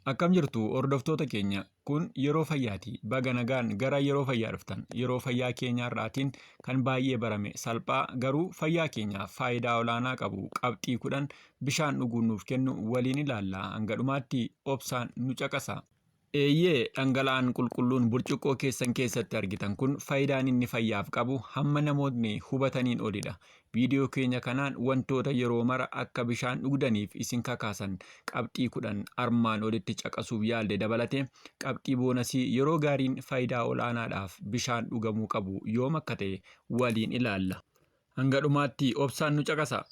Akkam jirtu hordoftoota keenya kun yeroo fayyaati. Baga nagaan gara yeroo fayyaa dhuftan. Yeroo fayyaa keenya irraatiin kan baay'ee barame salphaa garuu fayyaa keenyaaf faayidaa olaanaa qabu qabxii kudhan bishaan dhuguun nuuf kennu waliin ilaalla. Hanga dhumaatti obsaan nu caqasa. Eeyyee, dhangala'aan qulqulluun burcuqqoo keessan keessatti argitan kun faayidaan inni fayyaaf qabu hamma namootni hubataniin olidha. Viidiyoo keenya kanaan wantoota yeroo mara akka bishaan dhugdaniif isin kakaasan qabxii kudhan armaan olitti caqasuuf yaalde dabalatee qabxii boonasii yeroo gaariin faayidaa ol'aanaadhaaf bishaan dhugamuu qabu yoom akka ta'e waliin ilaalla. Hanga dhumaatti obsaan nu caqasa.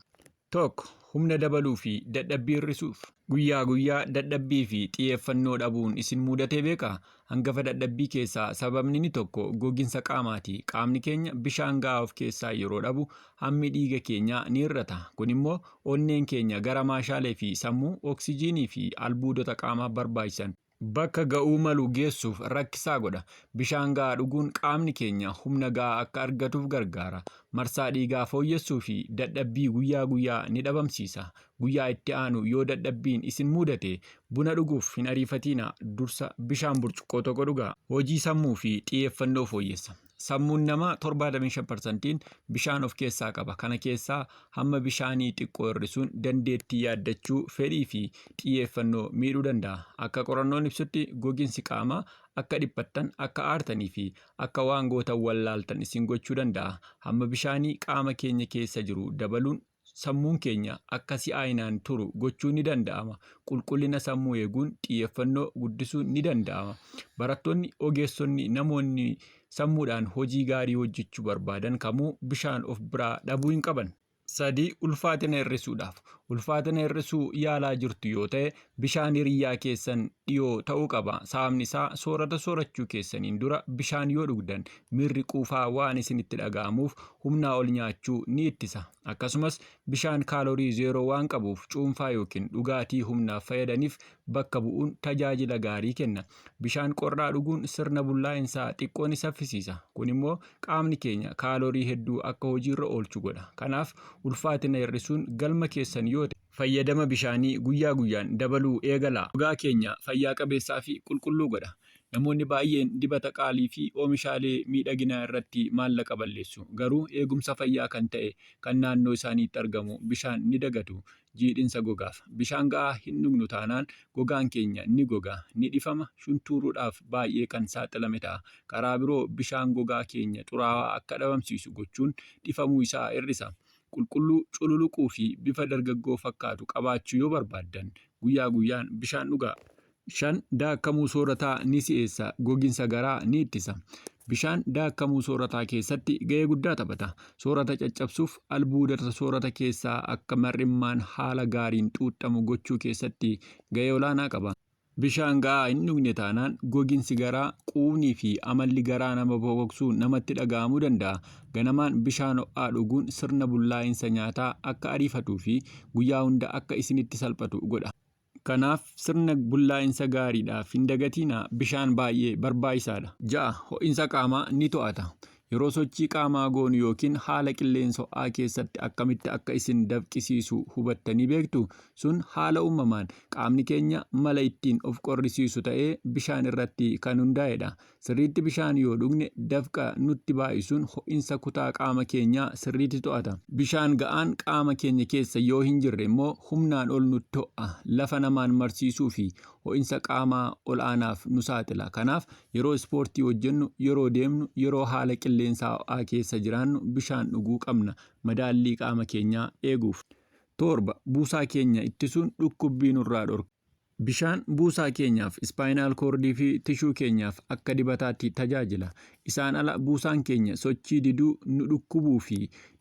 1, Humna dabaluu fi dadhabbii hir'isuuf. Guyyaa guyyaa dadhabbii fi xiyeeffannoo dhabuun isin muudatee beekaa? Hangafa dadhabbii keessaa sababni inni tokko goginsa qaamaati. Qaamni keenya bishaan gahaa of keessaa yeroo dhabu hammi dhiiga keenyaa ni hir'ata. Kun immoo onneen keenya gara maashaalee fi sammuu oksijiinii fi albuudota qaamaaf barbaachisan bakka ga'uu malu geessuuf rakkisaa godha. Bishaan ga'aa dhuguun qaamni keenya humna ga'aa akka argatuuf gargaara. Marsaa dhiigaa fooyyessuu fi dadhabbii guyyaa guyyaa ni dhabamsiisa. Guyyaa itti aanu yoo dadhabbiin isin muudate buna dhuguuf hin ariifatiinaa, dursa bishaan burcuqqoo tokko dhugaa. Hojii sammuu fi xiyeeffannoo fooyyessa. Sammuun namaa 75%n bishaan of keessaa qaba. Kana keessaa hamma bishaanii xiqqoo hir'isuun dandeettii yaaddachuu, fedhii fi xiyyeeffannoo miidhuu danda'a. Akka qorannoon ibsutti goginsi qaamaa akka dhiphattan, akka aartanii fi akka waan gootan wallaaltan isin gochuu danda'a. Hamma bishaanii qaama keenya keessa jiru dabaluun Sammuun keenya akka si'aayinaan turu gochuun ni danda'ama. Qulqullina sammuu eeguun xiyyeffannoo guddisuun ni danda'ama. Barattoonni, ogeessonni, namoonni sammuudhaan hojii gaarii hojjechuu barbaadan kamuu bishaan of biraa dhabuu hin qaban. 3, Ulfaatina hir'isuudhaaf. Ulfaatina hir'isuu yaalaa jirtu yoo ta'e, Bishaan hiriyyaa keessan dhiyoo ta'uu qaba. Sababni isaa soorata soorachuu keessaniin dura bishaan yoo dhugdan miirri quufaa waan isinitti dhaga'amuuf humnaa ol nyaachuu ni ittisa. Akkasumas bishaan kaalorii zeeroo waan qabuuf cuunfaa yookiin dhugaatii humnaaf fayyadaniif bakka bu'uun tajaajila gaarii kenna. Bishaan qorraa dhuguun sirna bullaa'insaa xiqqoo ni saffisiisa. Kun immoo qaamni keenya kaalorii hedduu akka hojiirra oolchu godha. Kanaaf ulfaatina hir'isuun galma keessan yoo ta'e, fayyadama bishaanii guyyaa guyyaan dabaluu eegala. Gogaa keenya fayyaa qabeessaa fi qulqulluu godha. Namoonni baay'een dibata qaalii fi oomishaalee miidhaginaa irratti maallaqa balleessu, garuu eegumsa fayyaa kan ta'e kan naannoo isaaniitti argamu bishaan ni dagatu. Jiidhinsa Gogaaf. Bishaan ga'aa hin dhugnu taanaan gogaan keenya ni goga, ni dhifama, shuntuuruudhaaf baay'ee kan saaxilame ta'a. Karaa biroo bishaan gogaa keenya xuraawaa akka dhabamsiisu gochuun dhifamuu isaa hir'isa. qulqulluu, cululuquu fi bifa dargaggoo fakkaatu qabaachuu yoo barbaaddan guyyaa guyyaan bishaan dhugaa. 5 daakkamuu soorataa ni si'eessa, goginsa garaa ni ittisa. Bishaan daakkamuu soorataa keessatti ga'ee guddaa taphata. Soorata caccabsuuf albuudota soorata keessaa akka mar'immaan haala gaariin xuuxxamu gochuu keessatti ga'ee olaanaa qaba. Bishaan ga'aa hin dhugne taanaan goginsi garaa, quufnii fi amalli garaa nama bokoksuu namatti dhaga'amuu danda'a. Ganamaan bishaan ho'aa dhuguun sirna bullaa'insa nyaataa akka ariifatuu fi guyyaa hunda akka isinitti salphatu godha. Kanaaf, sirna bullaa'insa gaariidhaaf hin dagatiinaa, bishaan baay'ee barbaachisaadha. 6, Ho'insa qaamaa ni to'ata. Yeroo sochii qaamaa goonu yookiin haala qilleensa ho'aa keessatti akkamitti akka isin dafqisiisu hubattanii beektu? Sun haala uumamaan qaamni keenya mala ittiin of qorrisiisu ta'ee bishaan irratti kan hundaa'edha. Sirriitti bishaan yoo dhugne dafqa nutti baay'isuun ho'insa kutaa qaama keenyaa sirriitti to'ata. Bishaan ga'aan qaama keenya keessa yoo hin jirre immoo humnaan ol nutti ho'a, lafa namaan marsiisuu fi ho'insa qaamaa ol'aanaaf nu saaxila. Kanaaf Yeroo ispoortii hojjennu, yeroo deemnu, yeroo haala qilleensaa ho'aa keessa jiraannu bishaan dhuguu qabna, madaallii qaama keenyaa eeguuf. 7, Buusaa keenya ittisuun dhukkubbii nurraa dhorka. Bishaan buusaa keenyaaf, ispaayinaal koordii fi tishuu keenyaaf akka dibataatti tajaajila. Isaan ala buusaan keenya sochii diduu, nu dhukkubuu fi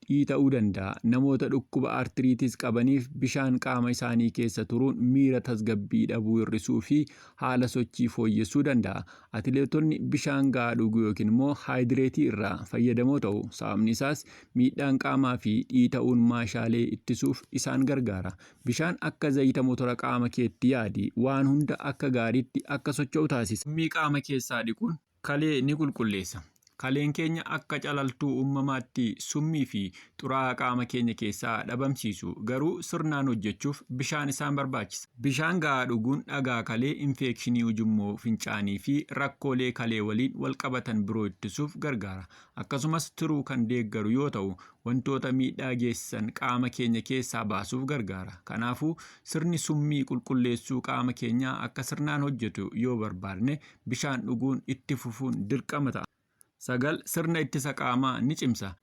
dhiita'uu danda'a. Namoota dhukkuba artiriitis qabaniif bishaan qaama isaanii keessa turuun miira tasgabbii dhabuu hir'isuu fi haala sochii fooyyessuu danda'a. Atileetonni bishaan ga'aa dhuguu yookiin immoo haayidireetii irraa fayyadamoo ta'u. Sababni isaas miidhaan qaamaa fi dhiita'uun maashaalee ittisuuf isaan gargaara. Bishaan akka zayita motora qaama keetti yaadi. Waan hunda akka gaariitti akka socho'u taasisa. Summii qaama keessaa dhiquun Kalee ni qulqulleessa. Kaleen keenya akka calaltuu uumamaatti summii fi xuraa'aa qaama keenya keessaa dhabamsiisu, garuu sirnaan hojjechuuf bishaan isaan barbaachisa. Bishaan ga'aa dhuguun dhagaa kalee, infeekshinii ujummoo fincaanii fi rakkoolee kalee waliin wal qabatan biroo ittisuuf gargaara. Akkasumas tiruu kan deeggaru yoo ta'u, wantoota miidhaa geessisan qaama keenya keessaa baasuuf gargaara. Kanaafuu, sirni summii qulqulleessuu qaama keenyaa akka sirnaan hojjetu yoo barbaadne, bishaan dhuguun itti fufuun dirqama ta'a. 9 sirna ittisa qaamaa ni cimsa.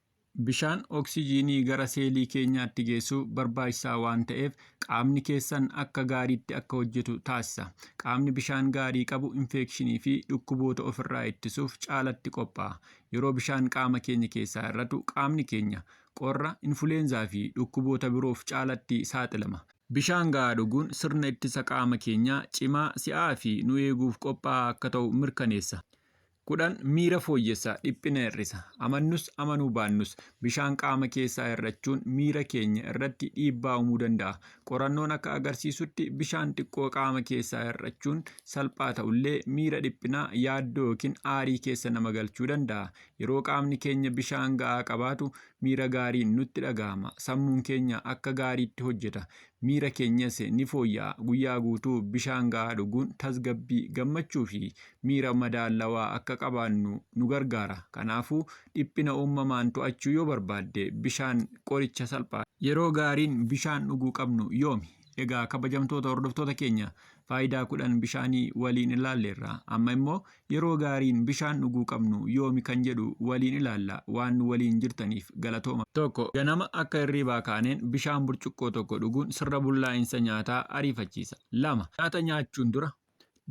Bishaan oksijiinii gara seelii keenyaatti geessu barbaachisaa waan ta'eef qaamni keessan akka gaariitti akka hojjetu taasisa. Qaamni bishaan gaarii qabu infeekshinii fi dhukkuboota ofirraa ittisuuf caalatti qophaa'a. Yeroo bishaan qaama keenya keessaa hir'atu qaamni keenya qorra, infuleenzaa fi dhukkuboota biroof caalatti saaxilama. Bishaan gahaa dhuguun sirna ittisa qaama keenyaa cimaa, si'aa fi nu eeguuf qophaa'aa akka ta'u mirkaneessa. 10 miira fooyyessa, dhiphina hir'isa. Amannus amanuu baannus, bishaan qaama keessaa hir'achuun miira keenya irratti dhiibbaa uumuu danda'a. Qorannoon akka agarsiisutti bishaan xiqqoo qaama keessaa hir'achuun salphaa ta'ullee miira dhiphinaa, yaaddoo ykn aarii keessa nama galchuu danda'a. Yeroo qaamni keenya bishaan ga'aa qabaatu miira gaariin nutti dhaga'ama. Sammuun keenya akka gaariitti hojjeta. Miira keenyas ni fooyya'a. Guyyaa guutuu bishaan ga'aa dhuguun tasgabbii, gammachuu fi miira madaallawaa akka qabaannu nu gargaara. Kanaafuu, dhiphina uumamaan to'achuu yoo barbaadde bishaan qoricha salphaadha. Yeroo gaariin bishaan dhuguu qabnu yoomi? Egaa kabajamtoota hordoftoota keenya, faayidaa kudhan bishaanii waliin ilaalleerra. Amma immoo yeroo gaariin bishaan dhuguu qabnu yoomi kan jedhu waliin ilaalla. Waan nu waliin jirtaniif galatooma. Tokko, ganama akka hirriibaa kaaneen bishaan burcuqqoo tokko dhuguun sirna bullaa'insa nyaataa ariifachiisa. Lama. Nyaata nyaachuun dura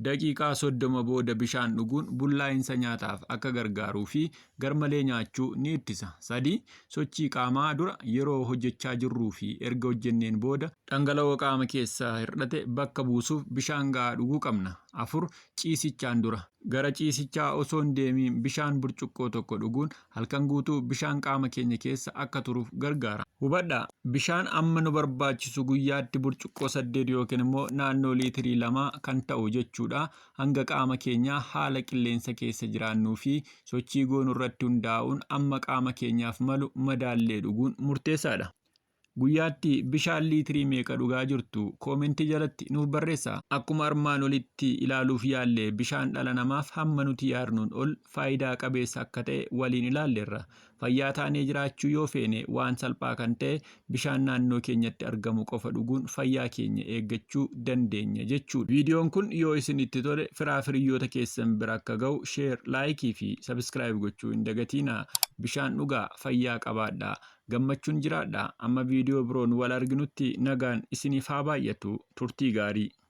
daqiiqaa soddoma booda bishaan dhuguun bullaa'insa nyaataaf akka gargaaruu fi garmalee nyaachuu ni ittisa. 3, Sochii qaamaa dura, yeroo hojjechaa jirruu fi erga hojjenneen booda. Dhangala'oo qaama keessaa hir'ate bakka buusuuf bishaan ga'aa dhuguu qabna. 4, Ciisichaan dura. Gara ciisichaa osoo hin deemiin bishaan burcuqqoo tokko dhuguun halkan guutuu bishaan qaama keenya keessa akka turuuf gargaara. Hubadhaa, bishaan amma nu barbaachisu guyyaatti burcuqqoo 8 ykn immoo naannoo liitirii 2 kan ta'u jechuu dha. hanga qaama keenyaa haala qilleensa keessa jiraannuu fi sochii goonu irratti hundaa'uun amma qaama keenyaaf malu madaallee dhuguun murteessaadha. Guyyaatti bishaan liitirii meeqa dhugaa jirtu? Koomentii jalatti nuuf barreessaa. Akkuma armaan olitti ilaaluuf yaalle bishaan dhala namaaf hamma nuti yaadnuun ol faayidaa qabeessa akka ta'e waliin ilaalleerra. Fayyaa taanee jiraachuu yoo feene waan salphaa kan ta'e bishaan naannoo keenyatti argamu qofa dhuguun fayyaa keenya eeggachuu dandeenya jechuudha. Viidiyoon kun yoo isinitti tole firaa firiyyoota keessan bira akka ga'u share, like fi subscribe gochuu hin dagatiinaa. Bishaan dhugaa, fayyaa qabaadhaa, gammachuun jiraadhaa. Amma viidiyoo biroon wal arginutti nagaan isiniif haa baay'atu. Turtii gaarii!